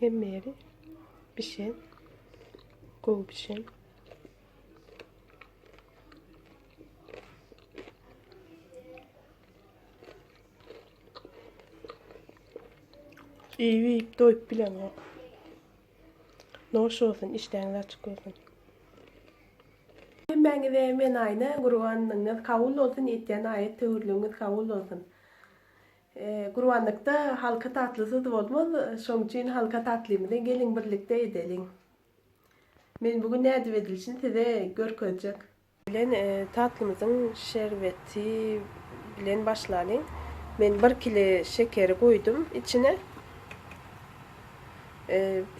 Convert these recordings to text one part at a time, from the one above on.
Hemmeleri bişen, gowy bişen. İyi yiyip doyup bilen yok. Noş olsun, işleriniz açık olsun. Hemmäňize men aýna gurbanyňyz kabul bolsun etýän aýat töwirligiňiz kabul bolsun. Gurbanlykda halka tatlysyz bolmaz, şoň üçin halka tatlymyzy geliň birlikde edeliň. Men bu gün nädip edilişini size görkezjek. Bilen tatlymyzyň şerbeti bilen başlalyň. Men bir kile şekeri goýdum içine.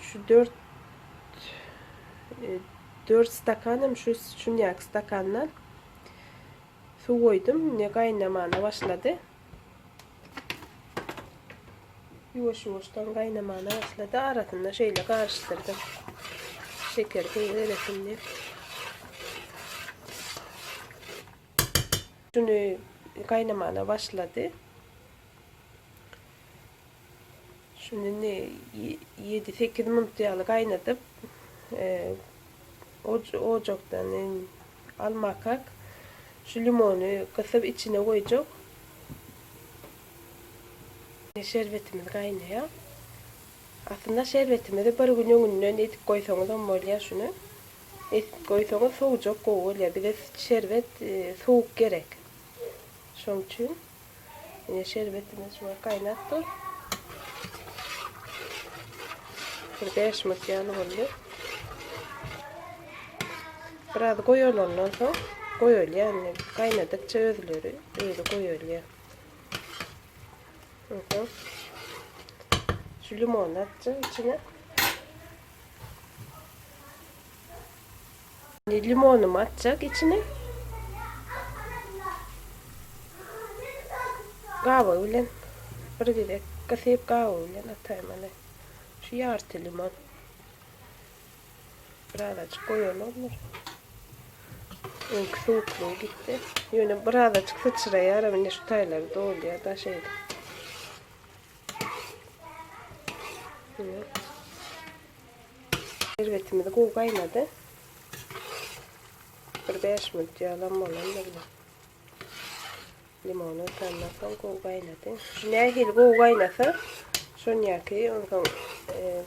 Şu dört dört stakanam şu şunýaky stakandan suw goýdum. Indi gaýnamana başlady. Ýuwaş-ýuwaşdan gaýnamana başlady. Arasynda şeýle garyşdyrdym. Şeker gowy eresin diýip. Şuny gaýnamana başlady. Şuny indi ýedi-sekiz minut ýaly gaýnadyp, ojakdan almakak. Şu limony gysyp içine goýjak. Şerbetimiz gaýnaýar. Aslynda şerbetimizi bir gün öňünden edip goýsaňyzam bolýar şuny. Edip goýsaňyz sowjak gowy bolýar. Bize şerbet sowuk gerek. Şoň üçin. Ine şerbetimiz şu gaýnap dur. Bir 5 minut ýaly boldy. Biraz goýulandan soň goýulýar. Indi gaýnadykça özleri özi goýulýar. Ondan şu limon atjak içine. Indi limonymy atjak içine. Gabygy bilen bir gezek gysyp gabygy bilen ataýyn mana. Şu ýarty limon. Birazajyk goýalarmyr. Öňki suwuklygy gitdi. Ýöne birazajyk syçraýar, indi şu taýlary dolýar da şeýle. Şerbetimiz gowy gaýnady. Bir 5 minut ýalam bolandyr. Limony tandan soň gowy gaýnady. Nähili gowy gaýnasa, şonýaki onsoň e,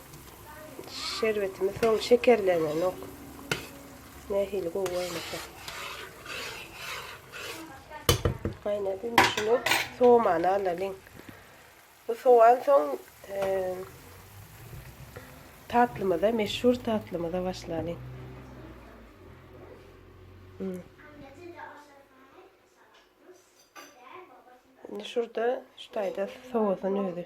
şerbetimiz soň şekerlenenok. Nähili gowy gaýnasa. Gaýnady, şunu soğumany alalyň. Bu sowan soň tatlymyza, meşhur tatlymyza başlalyň. Indi şurada şu taýda sowasyň özi.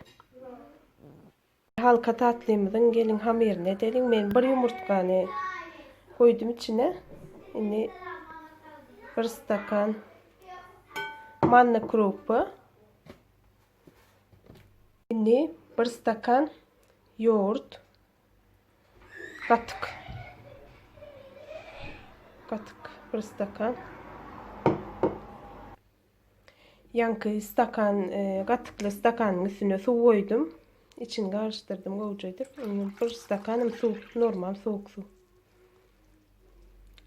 Halka tatlymyzyň gelin hamyryny edeliň. Men bir ýumurtgany goýdum içine. Indi bir stakan manna krupy. Indi bir stakan ýogurt gatyk. Gatyk bir stakan. Ýanky stakan e, gatykly stakanyň üstüne suw goýdum. İçini garyşdyrdym gowja edip. Indi bir stakanam suw, normal suwuk suw.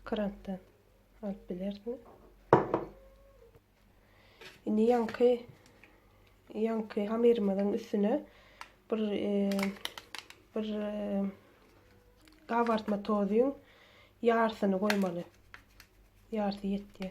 Krantdan alyp bilersiňiz. Indi ýaňky ýaňky hamyrymyzyň üstüne bir e, bir e, gabartma tozuň ýarsyny goýmaly. Ýarsy ýetdi.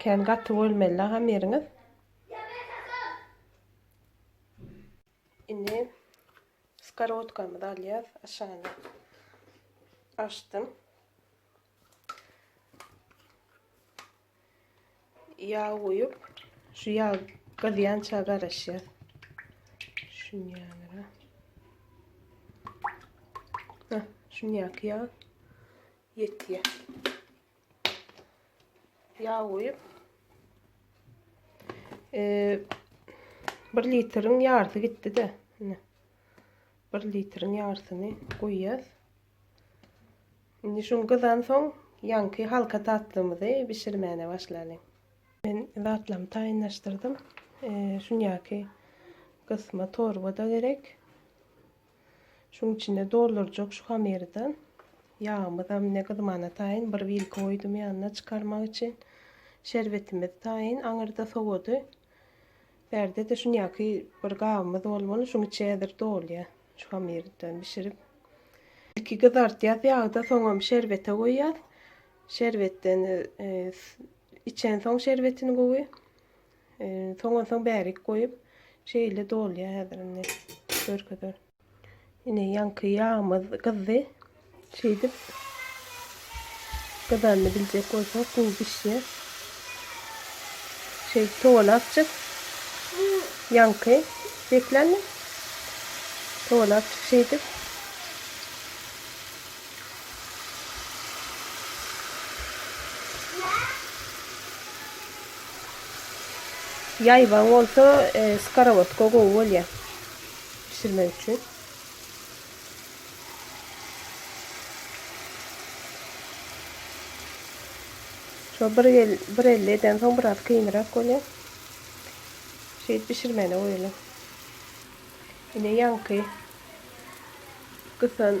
Kän gaty bolmaly agam ýeriňiz. Indi skorotkamyzy alýas. Aşagyny açdym. Ýag goýup, şu ýag gyzýança garaşýas. Şunýanra. Hah, şunýaky ýag. Ýetýä. Ýag goýup. Eee 1 litriň ýarysy gitdi-de. Ine. 1 litriň ýarysyny goýýas. Indi şuň gyzan soň ýanky halka tatlymyzy bişirmäne başlalyň. Men zatlarymy taýynlaşdyrdym. Eee şunýaky gysma torba-da gerek. Şuň içine doldurjak şu hamyrdan ýagymyzam ne gyzmana taýyn bir wilka goýdum ýanyna çykarmak üçin. Şerbetimiz taýyn aňyrda sowady. Bärde-de şunýaky bir gabymyz bolmaly, şuň içi häzir dolýa şu hamyrdan bişirip. Ilki gyzartýas ýagda, soňam şerbete goýýas. Şerbetden içensoň şerbetini gowy. Soňansoň bärik goýup, şeýle dolýar häzir indi. Görkezer. Ine ýaňky ýagmyz gyzdy. Şeýdip gyzanyny biljek bolsaň gowy bişýär. Şeýdip towany açjak. Ýaňky bekländi. Towany açjak şeýdip. Ýaýbaň bolsa skorovodka gowy bolýar bişirmek üçin. Şo bir bir elli eden soň biraz kynrak bolýar. Şeýdip bişirmäne goýalyň. Ine ýaňky gysan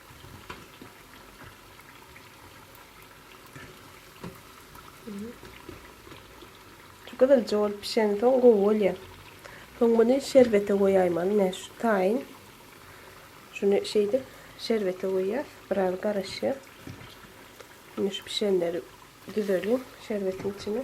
Şu gyzylja bolup pişen soň gowy bolýa. Soň muny şerbete goýaýmaly. Ine şu taýyn. Şuny şeýdip şerbete goýýas. Biraz garaşýa. Indi şu pişenleri düzeliň şerbetiň içine.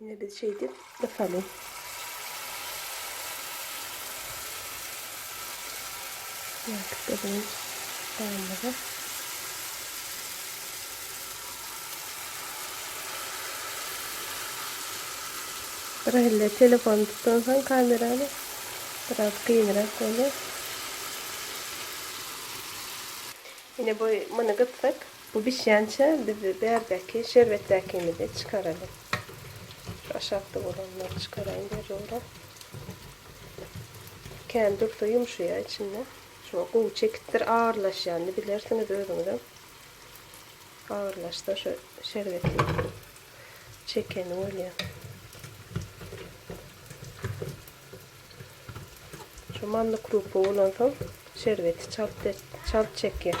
Indi biz şeýdip gysaly. Ýatyp berýän soňumyzy. Bir elle telefon tutdan soň kamerany biraz kynrak bolýar. Ine bu mını gytsak Bu bişýänçä biz bärdäki şerbetdäkimizi çykaraly. Şu aşakda bolanlary çykaraýyn zerura. Kän dursa ýumşaýar içinde. Şuňa gowy çekipdir, agyrlaşýanyny bilersiňiz özüňizem. Agyrlaşsa şu şerbeti çekeni bolýar. Şu manna krupa bolansoň şerbeti çalt çalt çekýär.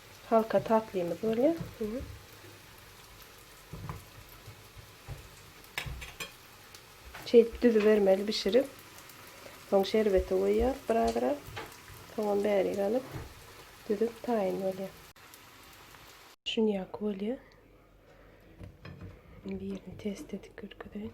Halka tatlymyz bolýar. Şeýdip düzübermeli bişirip. Soň şerbeti goýýas birazrak. Soňam bärik alyp düzüp taýyn bolýar. Şunýaky bolýar. Indi ýerini test edip görkezeýin.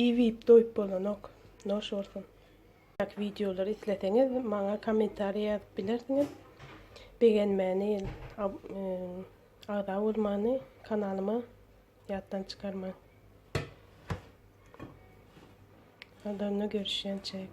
Iýip doýup bolanok. Noş bolsun. Ýaky wideolary isleseňiz maňa kommentariýa ýazyp bilersiňiz. Begenmäni, agza bolmany kanalyma ýatdan çykarmaň. Adamla görüşýänçäk.